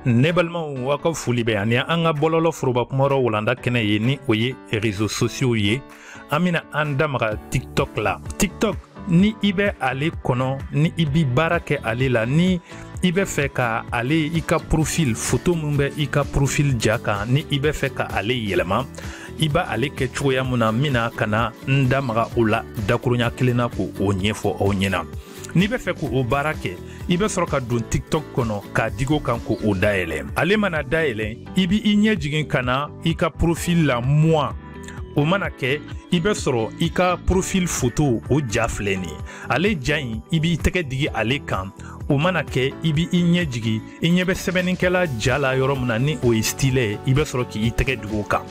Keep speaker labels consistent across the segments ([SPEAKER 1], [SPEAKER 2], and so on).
[SPEAKER 1] ne balimaw aw ka foli bɛ yan ni an ka bɔlɔlɔ foroba kumayɔrɔ walanda kɛnɛ ye ni o ye rezo sosiyow ye an bɛna an da maga tiktok la tiktok ni i bɛ ale kɔnɔ ni i bi baara kɛ ale la ni i bɛ fɛ ka ale i ka profil foto min bɛ i ka profil ja kan ni i bɛ fɛ ka ale yɛlɛma i b'ale kɛ cogoya min na n bɛna ka na n da maga o la dakurunya kelen na k'o ɲɛfɔ aw ɲɛna n'i bɛ fɛ k'o baara kɛ i bɛ sɔrɔ ka don tiktok kɔnɔ k'a digi o kan k'o dayɛlɛ ale mana dayɛlɛ i b'i ɲɛ jigin ka na i ka profil la moi o mana kɛ i bɛ sɔrɔ i ka profil foto o ja filɛ nin ye ale ja in i b'i tɛgɛ digi ale kan o mana kɛ i b' i ɲɛ jigin i ɲɛ bɛ sɛbɛnnikɛla ja la yɔrɔ min na ni o ye stylet ye i bɛ sɔrɔ k' i tɛgɛ digi o kan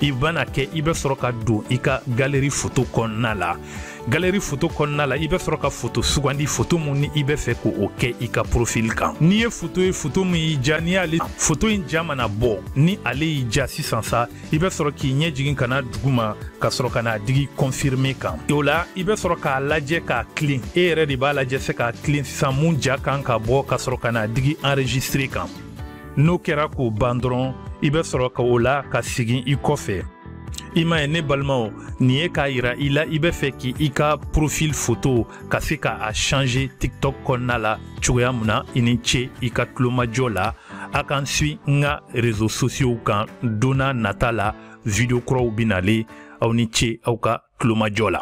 [SPEAKER 1] o mana kɛ i bɛ sɔrɔ ka don i ka galeri foto kɔnɔna la galeri foto kɔnɔna la i bɛ sɔrɔ ka foto sugandi foto min ni i bɛ fɛ k' o kɛ i ka porofili kan n'i ye foto ye foto min y'i diya n'i y'ale foto in ja mana bɔ ni ale y'i diya sisan sa i bɛ sɔrɔ k'i ɲɛ jigin ka na duguma ka sɔrɔ ka n'a digi kɔnfirime kan o la i bɛ sɔrɔ k'a lajɛ k'a tilen e yɛrɛ de b'a lajɛ se k'a tilen sisan min ja kan ka bɔ ka sɔrɔ ka n'a digi enregistre kan n'o kɛra k'o ban dɔrɔn i bɛ sɔrɔ ka o la ka segin i kɔfɛ i m'a ye ne balimaw nin ye k'a yira i la i bɛ fɛ k'i ka profil foto ka se ka a changer tiktok kɔnɔna la cogoya min na i ni ce i ka tulomajɔ la A ka n suivi n ka rezo sosiyow kan don nata la video kuraw bɛ nalen aw ni ce aw ka tulomajɔ la